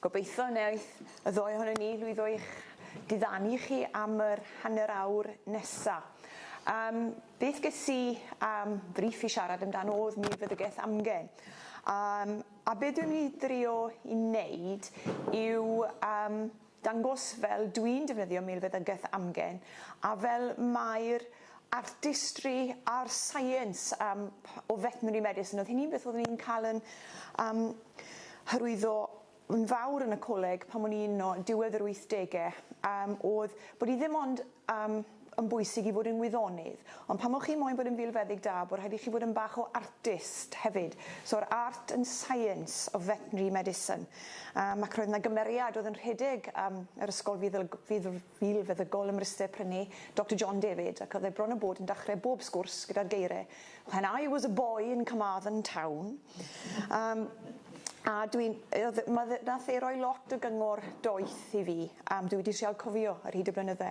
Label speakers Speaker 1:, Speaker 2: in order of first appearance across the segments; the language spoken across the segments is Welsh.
Speaker 1: Gobeithio wneith y ddoe ohonon ni lwyddo i'ch diddanu chi am yr hanner awr nesa. Yym, beth ges i am frîff i siarad amdano o'dd milfeddygaeth amgen. Yym, a be' dwi'n myn' i drio i neud yw yym dangos fel dwi'n defnyddio milfeddygaeth amgen a fel mae'r artistry a'r science um, o veterinary medicine. Oedd hi'n un beth oeddwn i'n cael yn um, hyrwyddo yn fawr yn y coleg pan o'n i'n no, diwedd yr 80au, um, oedd bod i ddim ond um, yn bwysig i fod yn wyddonydd, ond pan o'ch chi moyn bod yn filfeddyg da, bod rhaid i chi fod yn bach o artist hefyd. So'r art and science of veterinary medicine. Um, ac roedd yna gymeriad oedd yn rhedeg um, yr ysgol fuddug, fuddug, Bil feddygol ym Mryste prynu Doctor John David ac oedd e bron a bod yn dachre bob sgwrs gyda'r geire When I was a boy in Carmarthen town yym a dwi'n yy oedd ma' fe nath e roi lot o gyngor doeth i fi yym dwi wedi trial cofio ar hyd y blynydde.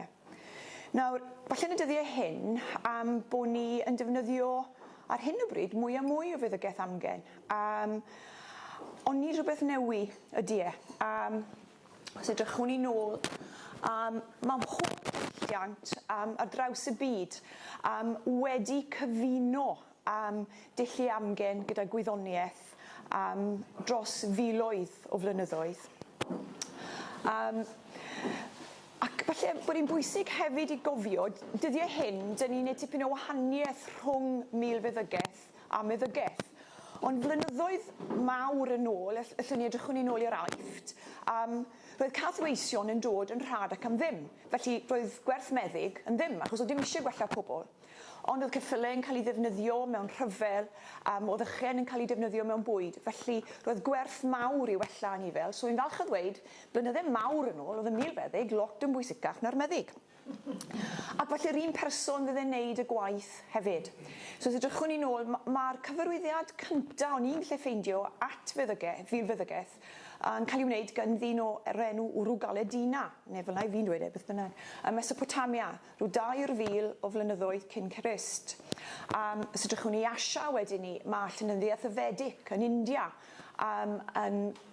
Speaker 1: Nawr falle yn y dyddie hyn yym bo' ni yn defnyddio ar hyn o bryd mwy a mwy o feddygeth amgen yym ond nid rhywbeth newy ydi e yym Os edrychwn ni nôl um, mae mhob diwylliant um, ar draws y byd um, wedi cyfuno um, dillu amgen gyda gwyddoniaeth um, dros filoedd o flynyddoedd. Um, ac falle bod hi'n bwysig hefyd i gofio, dyddiau hyn, dyn ni'n neud tipyn o wahaniaeth rhwng milfeddygaeth a meddygeth. Ond blynyddoedd mawr yn ôl, all- allwn ni edrychwn ni'n ôl i'r Aifft, um, roedd cathweision yn dod yn rhad ac am ddim. Felly, roedd gwerth meddyg yn ddim, achos oedd dim eisiau gwella pobl. Ond oedd ceffylau yn cael ei ddefnyddio mewn rhyfel, um, oedd ychen yn cael ei defnyddio mewn bwyd. Felly, roedd gwerth mawr i wella anifel. So, fi'n falch o ddweud, blynydde mawr yn ôl, oedd y milfeddyg lot yn bwysicach na'r meddyg. Ac felly yr un person fydd e'n neud y gwaith hefyd. So os edrychwn ni'n ôl, ma- ma'r cyfarwyddiad cynta o'n i'n gallu ffeindio at feddyge- Fil Feddygaeth yn cael ei wneud gan ddyn o- yr enw Urugaledina, neu fel 'na 'yf fi'n dweud e, beth bynnag, ym Mesopotamia, rhyw 2,000 o flynyddoedd cyn Crist. Yym, os edrychwn ni i Asia wedyn 'ny, ma' llenyddiaeth y Vedic yn India, yym, yn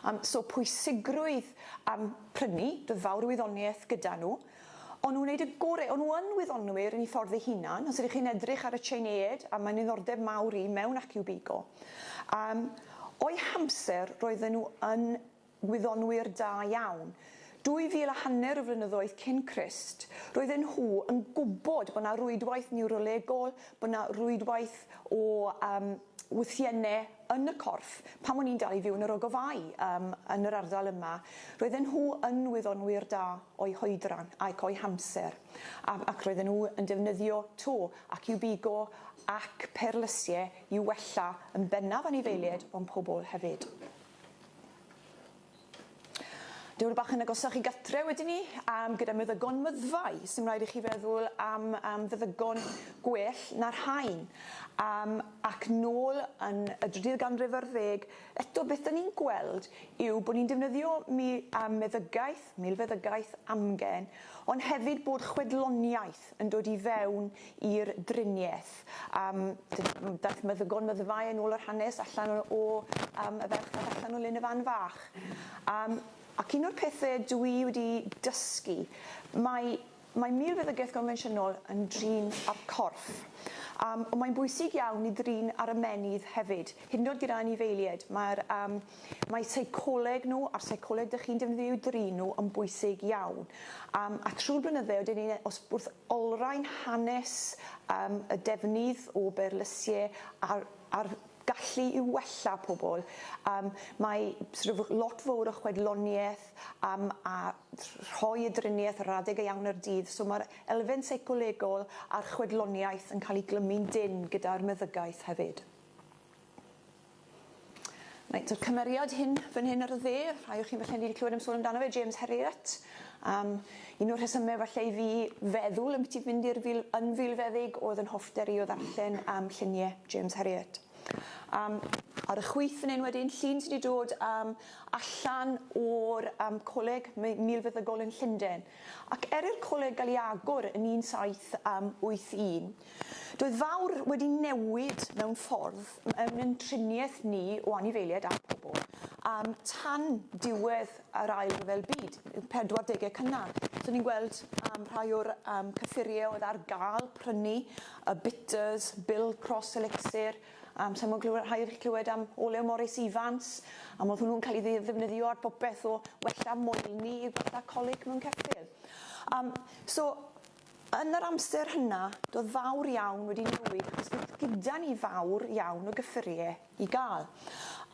Speaker 1: Yym so pwysigrwydd yym prynu, doedd fawr o wyddoniaeth gyda nhw, o'n nhw'n wneud y gore, o'n nhw yn wyddonwyr yn eu ffordd eu hunan, os ydych chi'n edrych ar y Tsieineaid, a mae'n ddiddordeb mawr i mewn AccuBigo, yym o'u hamser roedden nhw yn wyddonwyr da iawn. Dwy fil a hanner o flynyddoedd cyn Crist, roedden nhw yn gwybod bod 'na rwydwaith niwrolegol, bod 'na rwydwaith o yym wythienne yn y corff, pan o'n i'n dal i fyw yn yr ogofau yym yn yr ardal yma, roedden nhw yn wyddonwyr da o'u hoedran ac o'u hamser, a ac roedden nhw yn defnyddio to ac i'w bigo ac perlysie i'w wella yn bennaf anifeilied ond pobl hefyd. Diwrnod bach yn agosach i gatre wedyn ni am gyda meddygon myddfai sy'n rhaid i chi feddwl am am feddygon gwell na'r rhain um, ac nôl yn y drydydd ganrif ar ddeg eto beth da ni'n gweld yw bod ni'n defnyddio mi um, meddygaeth, milfeddygaeth amgen ond hefyd bod chwedloniaeth yn dod i fewn i'r driniaeth. Yym d- daeth meddygon meddygfaol yn ôl yr hanes allan o o yym y ferch fach allan o lun y fan fach. Yym ac un o'r pethe dw i wedi dysgu mae mae milfeddygaeth gonfensiynol yn drin â'r corff. Yym ond mae'n bwysig iawn i ddrin ar ymennydd hefyd, hyd yn o'd gyda anifeilied mae'r yym mae seicoleg nhw a'r seicoleg dych chi'n defnyddio i'w drin nhw yn bwysig iawn. Yym a trwy'r blynydde wedyn ni os wrth Olrhain hanes am y defnydd o berlysiau a'r a'r gallu i wella pobl. Yym mae sort of lot fowr o chwedloniaeth yym a rhoi y driniaeth yr adeg iawn o'r dydd so mae'r elfen seicolegol a'r chwedloniaeth yn cael ei glymu'n dynn gyda'r meddygaeth hefyd. Reit, y cymeriad hyn fan hyn ar y dde, rhai o chi'n falle wedi clywed am sôn amdano fe, James Herriot. Um, un o'r rhesymau falle i fi feddwl yn beth i fynd i'r fil, yn filfeddig oedd yn hoffter i o ddarllen am lluniau James Herriot. Um, ar y chwyth fan hyn wedyn, llun sydd wedi dod um, allan o'r um, coleg milfeddygol yn Llundain. Ac er i'r coleg gael ei agor yn 1781, um, Doedd fawr wedi newid mewn ffordd mewn ein triniaeth ni o anifeiliaid a phobl um, tan diwedd yr ail ryfel byd, 40au cynnar. So ni'n gweld um, rhai o'r um, cyffuriau oedd ar gael prynu, y bitters, Bill Cross Elixir, um, sa'n mwyn clywed, rhai wedi clywed am olew Morris Evans, am oedd hwnnw'n cael ei ddefnyddio ar bopeth o wella moelni i gwella colic mewn ceffyl. Um, so Yn yr amser hynna, doedd fawr iawn wedi newid achos doedd gyda ni fawr iawn o gyffuriau i gael.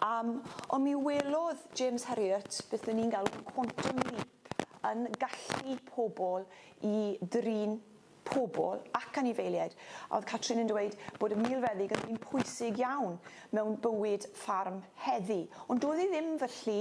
Speaker 1: Um, ond mi welodd James Herriot beth o'n ni'n galw quantum leap yn gallu pobl i drin pobl ac anifeiliaid. A oedd Catrin yn dweud bod y milfeddyg yn un pwysig iawn mewn bywyd ffarm heddi. Ond doedd hi ddim felly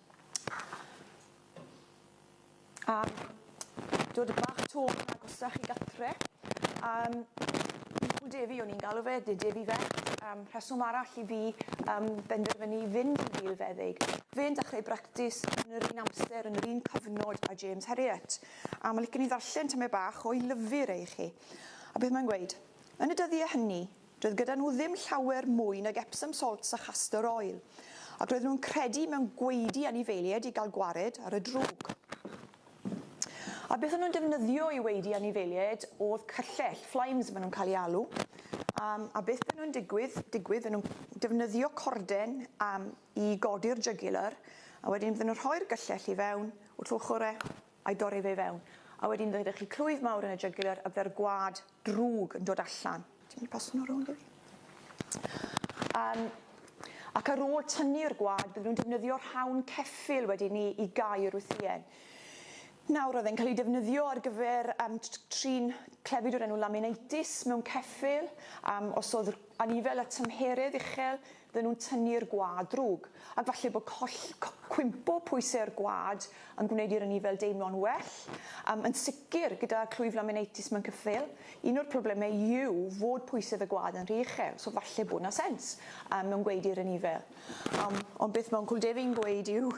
Speaker 1: A dod bach to yn agosach i gatre. Um, Michael Davey o'n i'n galw fe, de Davey Vet. Um, rheswm arall i fi um, benderfynu i fynd i'n filfeddyg. Fe'n dechrau bractis yn yr un amser, yn yr un cyfnod a James Herriot. A mae licen i ddarllen tyme bach o'i lyfr ei chi. A beth mae'n gweud? Yn y dyddiau hynny, Doedd gyda nhw ddim llawer mwy nag Epsom salts a chastor oil, ac roedden nhw'n credu mewn gwaedu anifeiliaid i gael gwared ar y drwg. A beth o'n nhw'n defnyddio i waedu anifeiliaid oedd cyllell, flames maen nhw'n cael ei alw, um, a beth beth nhw'n digwydd, digwydd beth nhw'n defnyddio corden um, i godi'r jugular, a wedyn beth nhw'n rhoi'r gyllell i fewn, wrth ochr e, a'i dorri fe i fewn, a wedyn fe ddech chi clwyf mawr yn y jugular a bydde'r gwad drwg yn dod allan. Ti'n mynd i pasio nhw rownd i fi? Um, ac ar ôl tynnu'r gwad, bydden nhw'n defnyddio rhawn ceffyl wedyn ni i gau'r wythïen. Nawr, oedd e'n cael ei defnyddio ar gyfer um, trin clefyd o'r enw laminitis mewn ceffyl, um, os oedd anifel a tymheredd uchel, Fydden nhw'n tynnu'r gwaed drwg, ac falle bod coll, co, cwympo pwysau'r gwaed yn gwneud i'r anifail deimlo'n well. Um, yn sicr, gyda clwyf laminitis mewn cyffil, un o'r problemau yw fod pwysedd y gwaed yn rhy uchel, so falle bod na sens um, mewn gweud i'r anifail. Um, ond beth mewn cwldefin gweud yw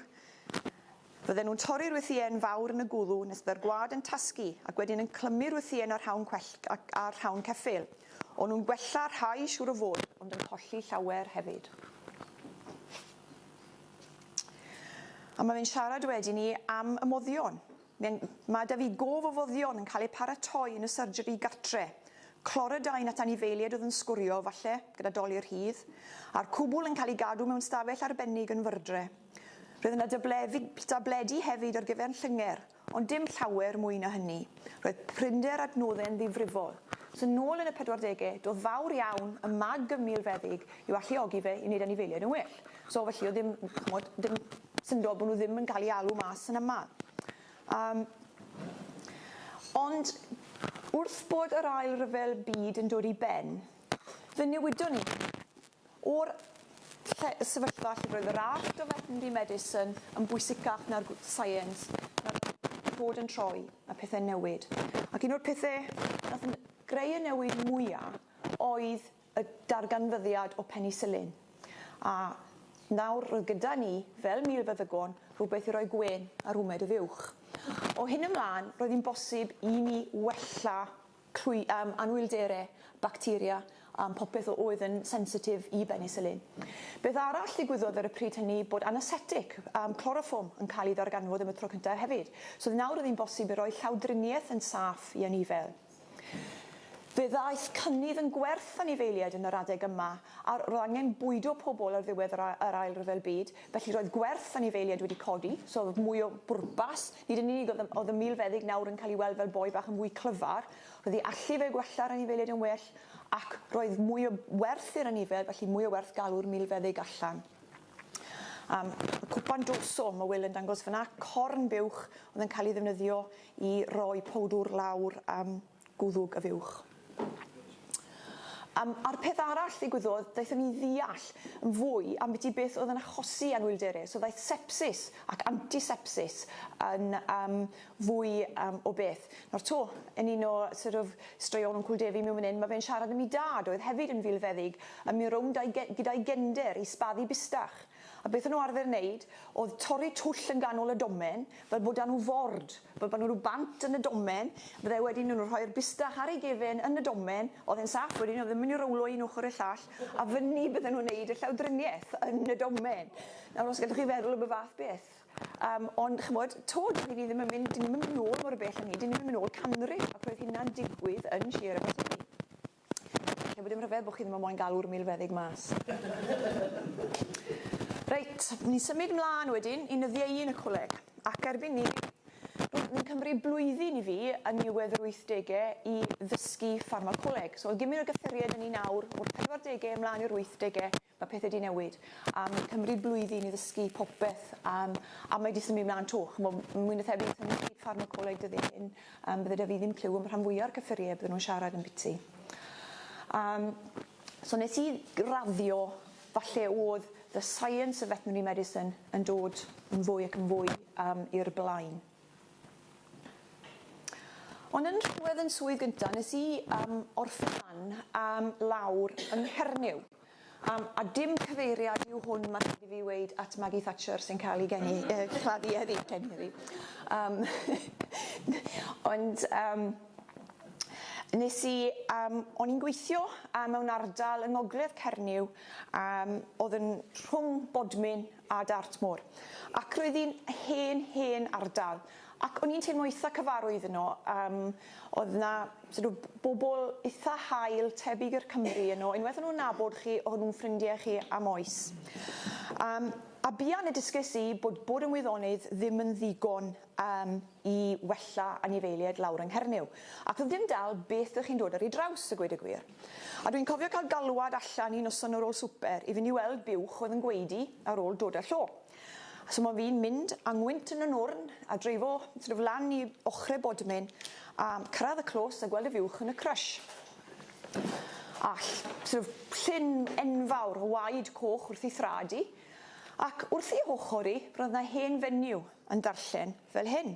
Speaker 1: Fydden nhw'n torri'r wythïen fawr yn y gwddw nes byddai'r gwad yn tasgu ac wedyn yn clymu'r wythïen â'r rhawn cwellt ac â'r rhawn ceffyl. O'n nhw'n gwella rhai, siŵr o fod, ond yn colli llawer hefyd. A mae fe'n siarad wedyn ni am y moddion. Mae'n, mae 'da fi gof o foddion yn cael eu paratoi yn y surgery gartre. Cloridine at anifeiliaid oedd yn sgwrio, falle, gyda dolur rhydd. A'r cwbl yn cael ei gadw mewn stafell arbennig yn Wyrdre. Roedd yna dabledi, dabledi hefyd ar gyfer Llyngerr, ond dim llawer mwy na hynny. Roedd prinder adnodde'n ddifrifol. So nôl yn y pedwardege, doedd fawr iawn y mag ym Milfeddyg i'w alluogi fe i wneud anifeiliaid yn well. So felly oedd ddim, ch'mod, dim syndod bod nhw ddim yn cael eu alw mas yn aml. Um, ond wrth bod yr ail ryfel byd yn dod i ben, fe newidon ni. O'r lle, y sefyllfa lle roedd y rallt o Veterinary Medicine yn bwysicach na'r Science, mae'r cod yn troi, mae pethe'n newid. Ac un o'r pethe nath greu y newid mwya oedd y darganfyddiad o Penicillin. A nawr roedd gyda ni, fel milfeddygon, rhywbeth i roi gwên ar wmed y fuwch. O hyn ymlân, roedd hi'n bosib i ni wella trwy um, anwyldere, bacteria, um, popeth o oedd yn sensitif i benisilin. Beth arall ddigwyddodd ar y pryd hynny bod anesetic, um, cloroffwm, yn cael ei ddarganfod am y tro cyntaf hefyd. So oedd nawr oedd hi'n bosib i roi llawdriniaeth yn saff i anifel. Fe ddaeth cynnydd yn gwerth anifeiliaid yn yr adeg yma, a roedd angen bwydo pobl ar ddiwedd yr Ail Ryfel Byd, Felly roedd gwerth anifeiliaid wedi codi, so oedd mwy o bwrpas. Nid yn unig oedd y, oedd y milfeddyg nawr yn cael ei weld fel boi bach yn fwy clyfar, roedd ei allu fe gwella'r anifeiliaid yn well, ac roedd mwy o werth i'r anifail, felly mwy o werth galw'r milfeddyg allan. Um, y cwpan dorsal, mae Will yn dangos fyna, corn buwch oedd yn cael ei ddefnyddio i roi powdwr lawr um, gwddwg a fuwch. Yym, a'r peth arall ddigwyddodd, daethon ni i ddeall yn fwy ambiti beth oedd yn achosi anhwylderau, so ddaeth sepsis ac antisepsis yn yym fwy yym o beth. Nawr 'to, yn un o sort of straeon Wncwl Defi mewn fan 'yn, ma' fe'n siarad am 'i dad, oedd hefyd yn filfeddyg, a mi rownd a'i ge- gyda'i gender i sbaddu bustach. A beth o'n nhw arfer wneud oedd torri twll yn ganol y domen fel bod 'da nhw ford, fel bod 'na rhyw bant yn y domen, fydde wedyn o'n nhw'n rhoi'r bustach ar ei gefen yn y domen, oedd e'n saff wedyn oedd e'n mynd i rowlo un ochr i'r llall a fyny bydden nhw'n wneud y llawdriniaeth yn y domen. Nawr os gallwch chi feddwl am y fath beth. Yym ond ch'mod, 'to dw i ddim yn mynd, 'dyn ni'm yn mynd nôl mor bell â 'ny, 'dyn ni'm yn mynd nôl canrif ac roedd hynna'n digwydd yn Sir Aberteifi. Neu bod dim rhyfedd bod chi ddim yn moyn galw'r milfeddyg mas. Reit, ni'n symud mlaen wedyn i nyddiau un y coleg. Ac erbyn ni, rwy'n ni'n cymryd blwyddyn i fi yn niwedd yr wythdegau i ddysgu ffarmacoleg. So oedd gymryd o gyffuriau da ni nawr o'r pedwardegau ymlaen i'r wythdegau Mae pethau 'di newid a mae'n cymryd blwyddyn i ddysgu popeth um, a mae 'di symud mlaen 'to. Chymod, mwy na thebyg, tan i chi ffarmacoleg dyddiau hyn, um, bydde 'da fi ddim clyw am rhan fwyaf o'r cyffuriau bydden nhw'n siarad yn biti. Um, so nes i raddio, falle oedd the science of veterinary medicine yn dod yn fwy ac yn fwy um, i'r blaen. Ond yn rhywedd yn swydd gyntaf, nes i um, orffen um, lawr yng Nghernyw. Am, a dim cyfeiriad yw hwn ma' rhaid i fi weud at Maggie Thatcher sy'n cael ei geni- yy claddu heddi, geni heddi. Yym ond yym nes i yym o'n i'n gweithio yy mewn ardal yng ngogledd Cernyw yym o'dd yn rhwng Bodmin a Dartmoor ac roedd 'i'n hen hen ardal Ac o'n i'n teimlo eitha cyfarwydd yno, yym oedd 'na sort of bobl eitha hael tebyg i'r Cymry yno, unwaith o'n nhw'n nabod chi o'n nhw'n ffrindiau chi am oes. Yym a buan y dysgais i bod bod yn wyddonydd ddim yn ddigon yym i wella anifeiliaid lawr yng Nghernyw, ac oedd dim dal beth dych chi'n dod ar ei draws a gweud y gwir. A dwi'n cofio cael galwad allan un noson ar ôl swper i fynd i weld buwch oedd yn gwaedu ar ôl dod â llo. So mae fi'n mynd a ngwynt yn y nwrn a dreifo sort of lan i ochre bodmin a cyrraedd y clos a gweld y fiwch yn y crush. All, sort of llyn enfawr o waed coch wrth ei thrad i, ac wrth ei hochr i roedd na hen fenyw yn darllen fel hyn.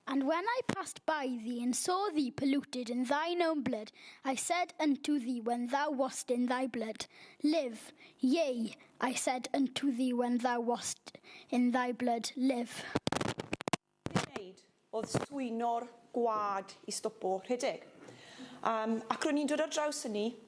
Speaker 1: And when I passed by thee, and saw thee polluted in thine own blood, I said unto thee when thou wast in thy blood, Live. Yea, I said unto thee when thou wast in thy blood, Live. Be i wneud oedd swyno'r gwlad i stopo rhedeg. Um, ac ro'n i'n dod ar draws hynny,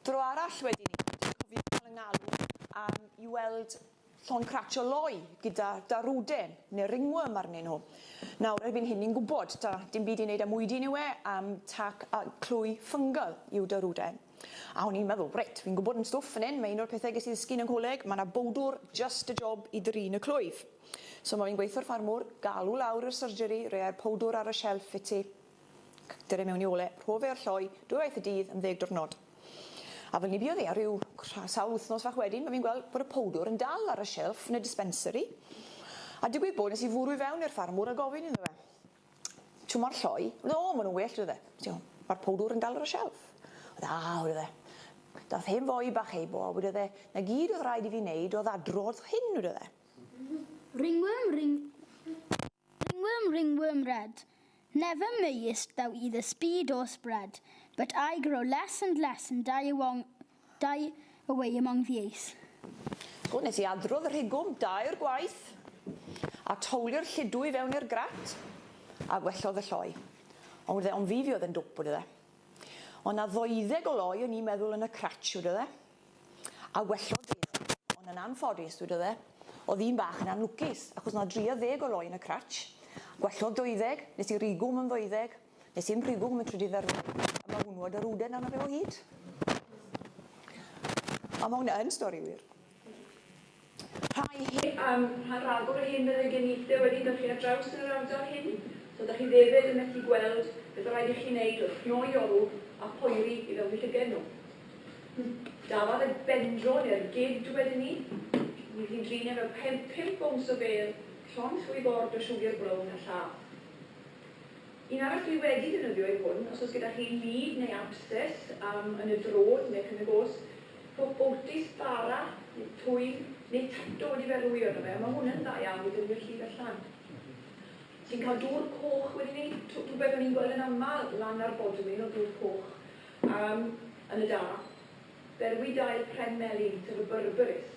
Speaker 1: Dro arall wedyn ni, dwi'n cofio cael y ngalw am i weld llon cratsio loi gyda Darude neu ringworm arnyn nhw. Nawr, erbyn hyn ni'n gwybod, ta dim byd i wneud â mwydyn yw e, am tac a clwy fungal yw Darude. A o'n i'n meddwl, reit, fi'n gwybod yn stwff fan hyn, mae un o'r pethau ges i ddysgu yn y coleg, mae yna bowdwr just y job i drin y clwyf. So mae fi'n gweithio'r ffarmwr, galw lawr yr surgery, rhei'r powdwr ar y shelf i ti, Dere mewn i ole rhof e'r lloi dwywaith y dydd am ddeg diwrnod. A fel ni buodd e, ryw sawl wythnos fach wedyn, mae fi'n gweld bod y powdwr yn dal ar y shelf yn y dispensary. A digwydd bod nes i fwrw i fewn i'r ffarmwr a gofyn iddo fe, Shw mo'r lloi? Wedd e, O, ma' nhw'n well, wedd e. Wnes i, O, ma'r powdwr yn dal ar y shelf. Wedd e, A, wedd e. Dath hen foi bach ei bo a wedodd e, 'Na gyd oedd rhaid i fi wneud oedd adrodd hyn, wedodd e. Ringworm, ring. Ringworm, ringworm red, Never mayest thou either speed or spread, But I grow less and less and die awong, die away among the ace. O, nes i adrodd rhigwm dair gwaith, a towlio'r lludw i fewn i'r grat, a gwellodd y lloi. Ond wrth e, ond fi, fi oedd yn dwp, wedodd e. O' 'na ddoeddeg o loi o'n i'n meddwl yn y crach, wedodd e. A wellodd e fi, ond yn anffodus, dwedodd e, oedd un bach yn anlwcus, achos na dri a ddeg o loi yn y crutch. Gwellodd deuddeg, nes i rigo hwm yn ddeuddeg, nes i'm rhigo hwm yn trydydd ar ôl, a ma hwnnw a dy rwden arno fe o hyd. A ma hwnna yn stori wir. Rhai hi. Am rhan ragor o hyn byddai gen i lle wedi mychu ar draws yn yr ardal hyn, so dach chi ddefed yn methu gweld beth o raid i chi wneud wrth gnoi olw a phoeri i fewn i llygaid nhw. Hm, dafad y bendro neu'r gid wedyn ni. Fydd hi'n drin e fel pen pump owns o bêl, llond llwy bord o siwgr brown a llaw. Un arall dwi wedi defnyddio yw hwn, os oes gyda chi lid neu absces am yn y drod neu cyn y gos, pob bowtis, bara, neu twyll, neu tato wedi berwi arno fe, a mae hwn yn dda iawn i ddefnyddio llif a llan. Ti'n cael dŵr coch wedi ni, rhywbeth o'n i'n gweld yn aml lan ar bodwyn o dŵr coch um, yn y da. Berwi dail pren melin, sef y berberis.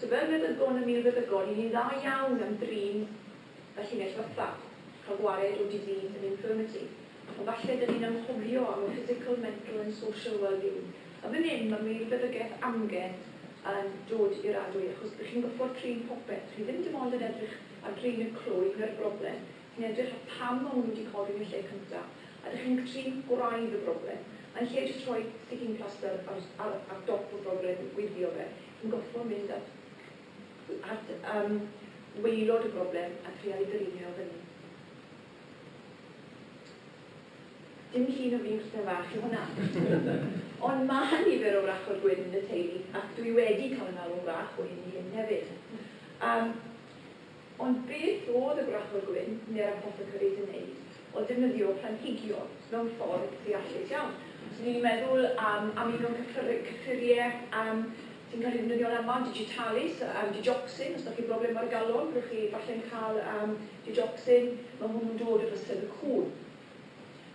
Speaker 1: Tybed beth oedd gwn yn mil feddygon i ni'n dda iawn am drin y llinell fatha, cael gwared o disease and infirmity, ond falle dyn ni'n anghofio am y physical, mental and social well-being. A fan hyn mae mil feddygeth amgen yn dod i'r adwy, achos dych chi'n gorfod trin popeth, chi ddim dim ond yn edrych ar drin y clo, ignore the problem, Yn edrych ar pam maen nhw wedi codi yn y lle cyntaf, a dych chi'n trin gwraidd y broblem, yn lle jyst rhoi sticking plaster ar ar ar dop y broblem i gwifio fe, chi'n gorfod mynd at at yym waelod y broblem a trial ei gyrru fe o fyny. Dim llun o fi'n cnau fach yw hwnna! Ond mae nifer o wrachod gwyn yn y teulu, ac dwi wedi cael 'y ngalw'n wrach o hyn i hyn hefyd. Yym. Ond beth oedd y Gwrachwr Gwyn neu'r Apothecaries yn neud o defnyddio planhigion mewn ffordd ddeallus iawn? Os ydyn ni'n meddwl am amino cyffur- cyffurie yym sy'n cael eu defnyddio'n aml, digitalis, yym digoxin, os 'da chi'n broblem ar y galon, byddwch chi falle'n cael yym digoxin, ma' hwnnw'n dod o fysedd y cŵn.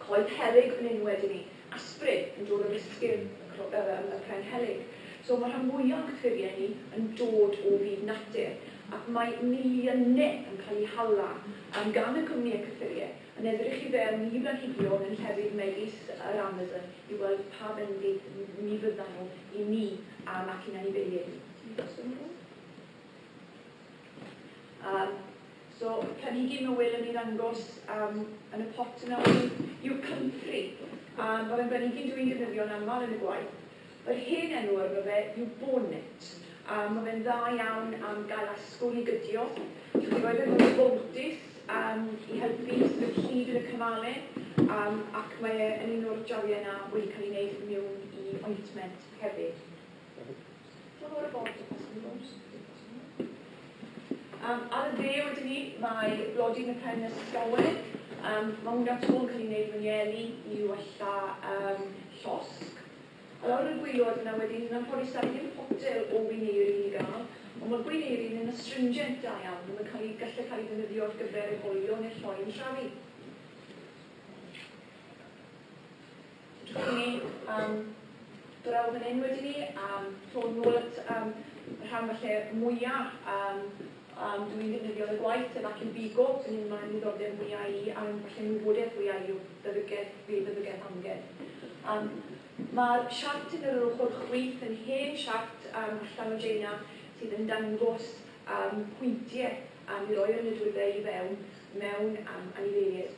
Speaker 1: Coed helyg yn enw wedyn ni. Asprin yn dod o bysgyn y pren helyg. So mae rhan fwya o'n cyffuriau ni yn dod o fyd natur ac mae miliyne yn cael eu hala am gan y cwmnïau cyffuriau yn edrych i fewn i blanhigion yn llefydd megis yr Amazon i weld pa fendith mi fyddan nhw i ni am ac i'n anifeiliaid ni. Ti 'di gosod nhw? Yym. So, planhigyn newydd yn ei ddangos um, yn y pot yna wedyn yw Comfrey. A mae fe'n blanhigyn dwi'n defnyddio'n aml yn y gwaith. Yr hen enw arno fe yw Bonnet. A mae fe'n dda iawn am gael asgwrn i gydio. Dwi wedi rhoi fe mewn bontis um, i helpu i symud llid yn y cymale. Um, ac mae e yn un o'r jaliau yna wedi cael ei wneud mewn i ointment hefyd. Um, ar y dde wedi ni, mae blodyn y pen nes llawer. Um, mae hwnna to yn cael ei wneud mewn ieli i wella um, llosg. A lawr y gwylod yna wedi ni, mae'n rhoi sain potel o wineir i ni gael. Ond mae gwineir yn astringent da iawn, mae'n cael ei gallu cael ei ddefnyddio ar gyfer ei hoelio neu'r lloi yn trafi. Diolch i ni am draw fan hyn wedyn ni am sôn nôl at um, y rhan falle mwyaf um, um, dwi'n defnyddio yn y gwaith sef ac yn bigo, sy'n un mae'n ddiddordeb mwyaf i a'n falle wybodaeth fwyaf i o feddygaeth, fe feddygaeth amgen. Um, Mae'r siart yn yr ochr chwith yn hen siart um, allan o Jaina sydd yn dangos um, pwyntiau am i roi'r nidwyddau i fewn mewn um, anifeiliaid.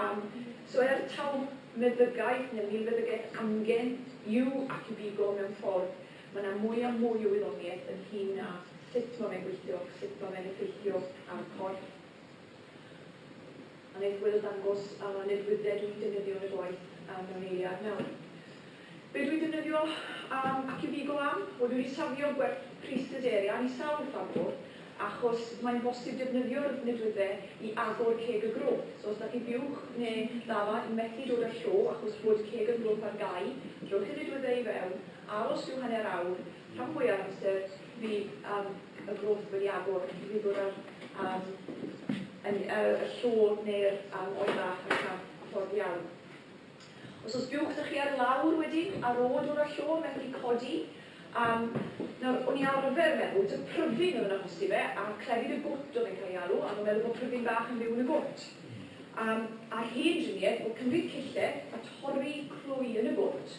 Speaker 1: Am, so er taw meddygaeth, neu milfeddygaeth amgen, yw ac i bi go mewn ffordd, mae yna mwy a mwy o wyddoniaeth ynghyn â sut mae fe'n gweithio, sut mae fe'n effeithio ar y corff. A wneith Wil ddangos nid wyddfa dw i'n defnyddio yn y gwaith mewn eiliad nawr. Be dw i defnyddio am ac yn ddigo am? Wel dw i wedi safio gwerth pris Dyderi ar i sawl ffarmwr achos mae'n bosib defnyddio'r nidwydde i agor ceg y grwp. So os da chi buwch neu ddafad yn methu dod â'r llo achos bod ceg y grwp ar gau, rhowch y nidwydde i fewn, aros rhyw hanner awr, rhan fwya o'r amser fydd y grwp wedi agor ac bydd dod â'r llo neu'r oen bach allan ffordd iawn. Os oes buwch da chi ar lawr wedyn, a'r od o'r allo yn medru codi, yym, nawr, o'n i arfer meddwl ta pryfyn oedd yn achosi fe, a clefyd y gwt oedd e'n cael ei alw, a o'n meddwl bod pryfyn bach yn byw yn y gwt. Yym, a'r hen driniaeth o cymryd cille a torri clwy yn y gwt,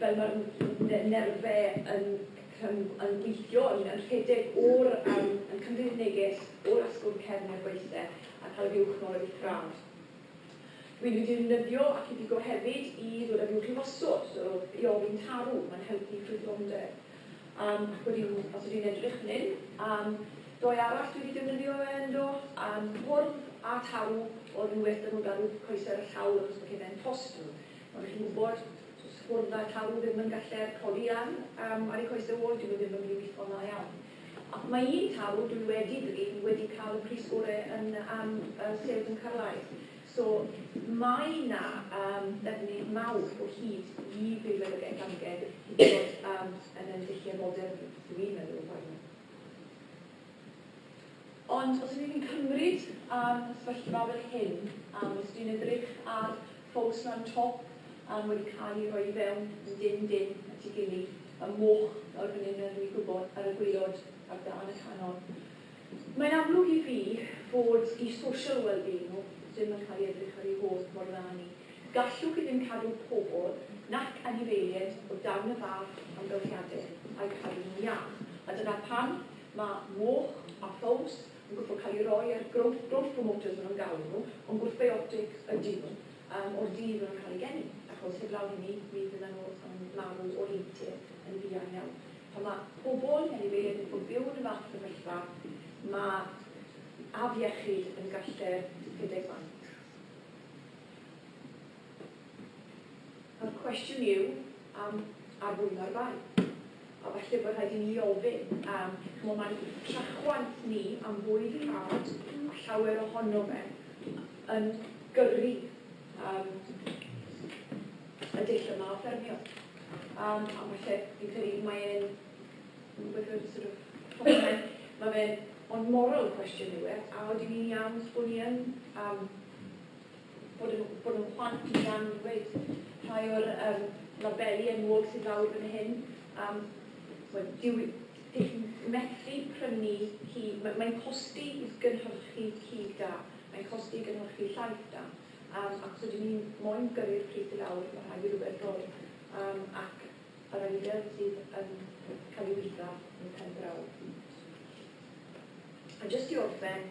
Speaker 1: fel mae'r n- nerfau yn cym- yn gweithio, o'n i'n yn rhedeg o'r yym yn cymryd y neges o'r asgwrn cefn i'r gwaethle a cael y fuwch nôl yn uchraf. Dwi'n wedi defnyddio ac i bigo hefyd i ddod â fuwch i wasod, so i ofyn tarw, mae'n helpu ffrwythlondeb. Um, ac wedyn, os ydyn edrych fan hyn, um, doi arall dwi wedi defnyddio fe ynddo, um, cwrdd a tarw, oedd yn well dyn nhw garw coesau'r llawr achos bod chi'n fe'n tost nhw. Ond chi'n gwybod, Does fwrdd a llaw ddim yn gallu'r colian am ar y coese wall, dyw e ddim yn mynd i witho yn dda iawn. Ac mae un taw dwi wedi drin wedi cael y pris gore yn am y sêl bwncarlaeth. So mae 'na um, ddefnydd mawr o hyd i feirweddigaeth amgen i fod um, yn y dulliau modern, dwi'n meddwl, o barn. Ond os ydych chi'n cymryd am y sefyllfa fel hyn, ac os dwi'n edrych ar ffowc lan top um, wedi cael ei roi i fewn yn dim dim at ei gilydd, y moch lawr fan hyn a dwi'n gwybod ar y gwaelod ar dân y canol. Mae'n amlwg i fi fod i social well-being nhw ddim yn cael ei edrych ar ei holl mor dda ni. Gallwch chi ddim cadw pobl nac anifeiliaid o dan y fath amgylchiadau a'u cadw nhw'n iach, a dyna pam Mae moch a ffowls yn gorfod cael eu rhoi ar growth growth promoters maen nhw'n galw nhw, ond gwrthbiotic ydyn nhw, yym, o'r dydd maen nhw'n cael eu geni, achos heblaw hynny mi fyddan nhw yn marw o heintie yn fuan iawn. Pan mae pobl anifeiliaid yn gorfod byw yn y fath sefyllfa, mae afiechyd yn galler rhedeg banc. A'r cwestiwn yw, am arwymo'r bai? a falle bod rhaid i ni ofyn am, ch'mod, mae trachwant ni am fwyd i fad, a llawer ohono fe yn gyrru um, y dull yma o ffermio. Um, a falle, fi'n credu, mae e'n, with a sort of, mae fe'n ond moral cwestiwn yw e, a oedden ni'n iawn bod ni yn um, bod yn bod yn plant ni am ddweud rhai o'r um, labeli enwog sydd lawr fan hyn. Um, well, dyw, dych chi'n methu prynu cig, mae'n mae costi i gynhyrchu cig da, mae'n costi i gynhyrchu llaeth da, um, ac os ydyn ni'n moyn gyrru'r pryd i lawr, mae rhaid i rhywbeth roi, um, ac yr eidedd sydd yn cael ei wydda yn pen draw. A jyst i orffen,